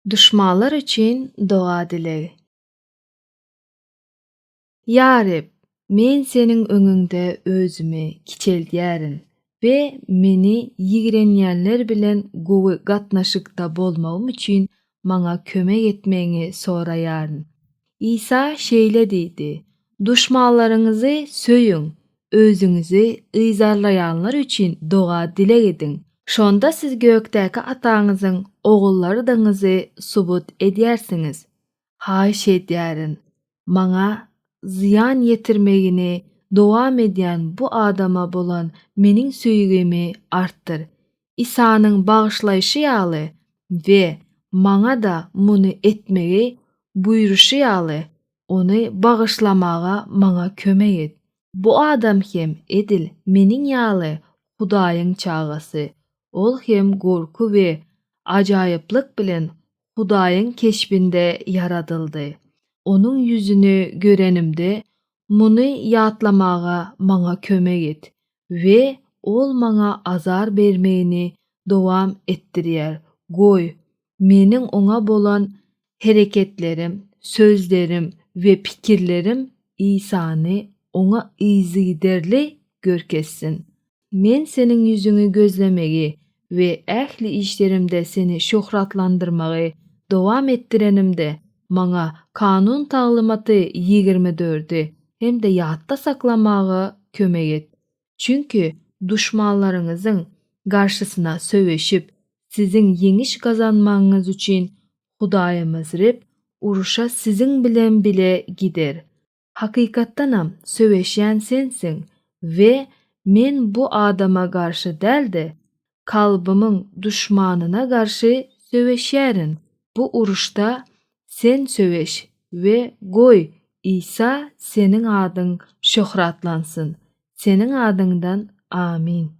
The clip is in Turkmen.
Duşmanlar üçin doga dilegi. Ýa Reb, men Seniň öňüňde özümi kiçeldýärin we meni ýigrenýänler bilen gowy gatnaşykda bolmagym üçin maňa kömek etmegiňi soraýaryn. Isa şeýle diýdi, Duşmanlaryňyzy söýüň, özüňizi yzarlaýanlar üçin doga-dileg ediň. Şonda siz gökdäki Ataňyzyň ogullardygyňyzy subut edýärsiňiz. Haýyş edýärin, Maňa zyýan ýetirmegini dowam edýän bu adama bolan Meniň söýgimi artdyr. Isanyň bagyşlaýşy ýaly we maňa-da muny etmegi buýruşy ýaly, ony bagyşlamaga maňa kömek et. Bu adam hem edil meniň ýaly Hudaýyň çagasy, ol hem gorky we ajaýyplyk bilen Hudaýyň keşbinde ýaradyldy. Onuň ýüzüni görenimde, Muny ýatlamaga maňa kömek et we ol maňa azar bermegini dowam etdirýär. Goý, meniň oňa bolan hereketlerim, sözlerim we pikirlerim Isany oňa yzygiderli görkezsin. Men Seniň ýüzüňi gözlemegi we ähli işlerimde Seni şöhratlandyrmagy dowam etdirenimde, maňa Kanun taglymaty ýigrimi dördi hem-de ýatda saklamaga kömek et. Çünki duşmanlaryňyzyň garşysyna söweşip, siziň ýeňiş gazanmagyňyz üçin Hudaýymyz Reb urşa siziň bilen bile gider. Hakykatdanam söweşýän sensiň we men bu adama garşy däl-de, kalbymyň duşmanyna garşy söweşýärin. Bu uruşda sen söweş we goý, Isa seniň adyň şöhratlansyn. Seniň adyňdan Amin.